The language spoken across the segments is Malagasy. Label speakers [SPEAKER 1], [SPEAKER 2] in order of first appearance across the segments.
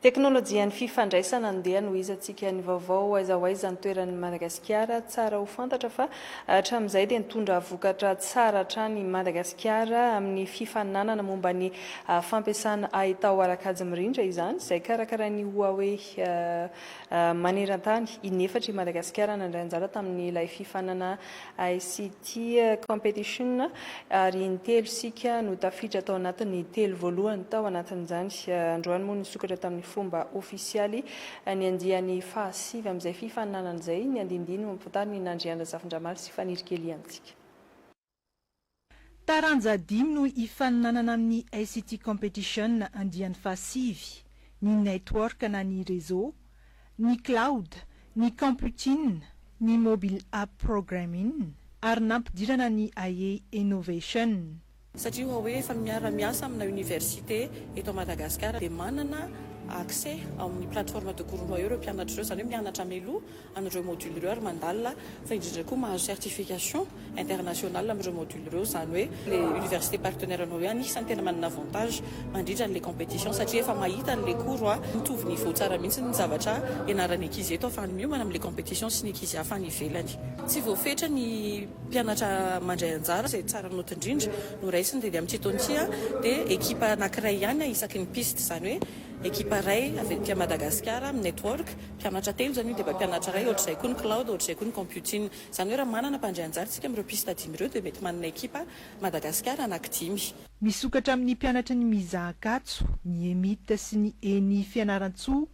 [SPEAKER 1] Teknolojian'ny fifandraisana andeha anohizantsika ny vaovao aiza ho aiza ny toeran'i Madagasikara. Tsara ho fantatra fa hatramin'izay dia nitondra vokatra tsara hatrany i Madagasikara amin'ny fifaninanana momba ny fampiasana haitao ara-kajy mirindra izany izay karakarain'ny Huawei. maneran-tany in'efatra i Madagasikara nandray anjara tamin'ilay fifaninana ICT Competition ary intelo isika no tafiditra tao anatin'ny telo voalohany tao anatin'izany. Androany moa nisokatra tamin'ny fomba ofisialy ny andiany fahasivy amin'izay fifaninanana izay. Ny andiandiany mampifantarina i Nandriandrazafindramary sy Fanirikely amintsika.
[SPEAKER 2] Taranja dimy no hifaninanana amin'ny ICT Competition andiany fahasivy, ny Network na ny Réseau, ny Cloud, ny Computing, ny Mobile App Programming ary nampidirana ny Aie Innovation. Satria hoa hoe
[SPEAKER 3] efa miara miasa amina université eto Madagascar dia manana accès ao amin'ny plateforme de Guru Mayo ireo mpianatra ireo, izany hoe mianatra mialoha an'ireo module ireo ary mandalina fa indrindra koa mahazo certification internationale amin'ireo module ireo izany hoe ilay université partenaire anao ihany isan'ny tena manana avantage mandritra an'ilay competition satria efa mahita an'ilay cours hoe mitovy niveau tsara mihitsy ny zavatra ianaran'ny ankizy eto ahafahany miomana amin'ilay competition sy ny ankizy hafa any ivelany. Tsy voafetra ny mpianatra mandray anjara, izay tsara note indrindra no raisina dia ny amin'ity taona ity dia ekipa anankiray ihany isaky ny piste izany hoe ekipa iray avy aty Madagasikara amin'ny network, Mpianatra telo izany io dia mba mpianatra iray, ohatr'izay koa ny cloud, ohatr'izay koa ny computing. Izany hoe raha manana mpandray anjara isika amin'ireo piste dimy ireo dia mety manana ekipa Madagasikara anankidimy. Misokatra amin'ny
[SPEAKER 2] mpianatra ny Miza Ankatso, ny EMIT sy ny Eni Fianarantsoa,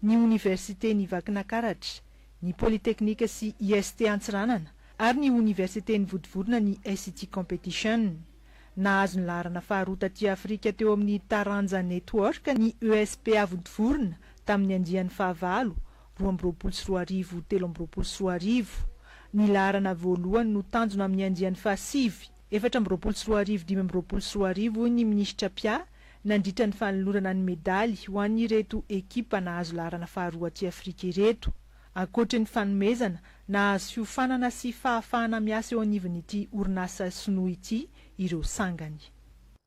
[SPEAKER 2] ny Oniversiten'i Vakinakaratra, ny Polytechnique sy IST Antsiranana ary ny Oniversiten'i Vodivorona ny SIT Competition. Nahazo ny laharana faharoa taty Afrika teo amin'ny taranja Network ny ESP Avontovorona tamin'ny andiany fahavalo, roa amby roapolo sy roa arivo, telo amby roapolo sy roa arivo. Ny laharana voalohany no tanjona amin'ny andiany fahasivy, efatra amby roapolo sy roa arivo, dimy amby roapolo sy roa arivo, hoy ny minisitra Pia, nandritra ny fanolorana ny medaly ho an'ireto ekipa nahazo laharana faharoa aty Afrika ireto. Ankoatry ny fanomezana, nahazo fiofanana sy fahafahana miasa eo anivon'ity orinasa sinoa ity ireo sangany.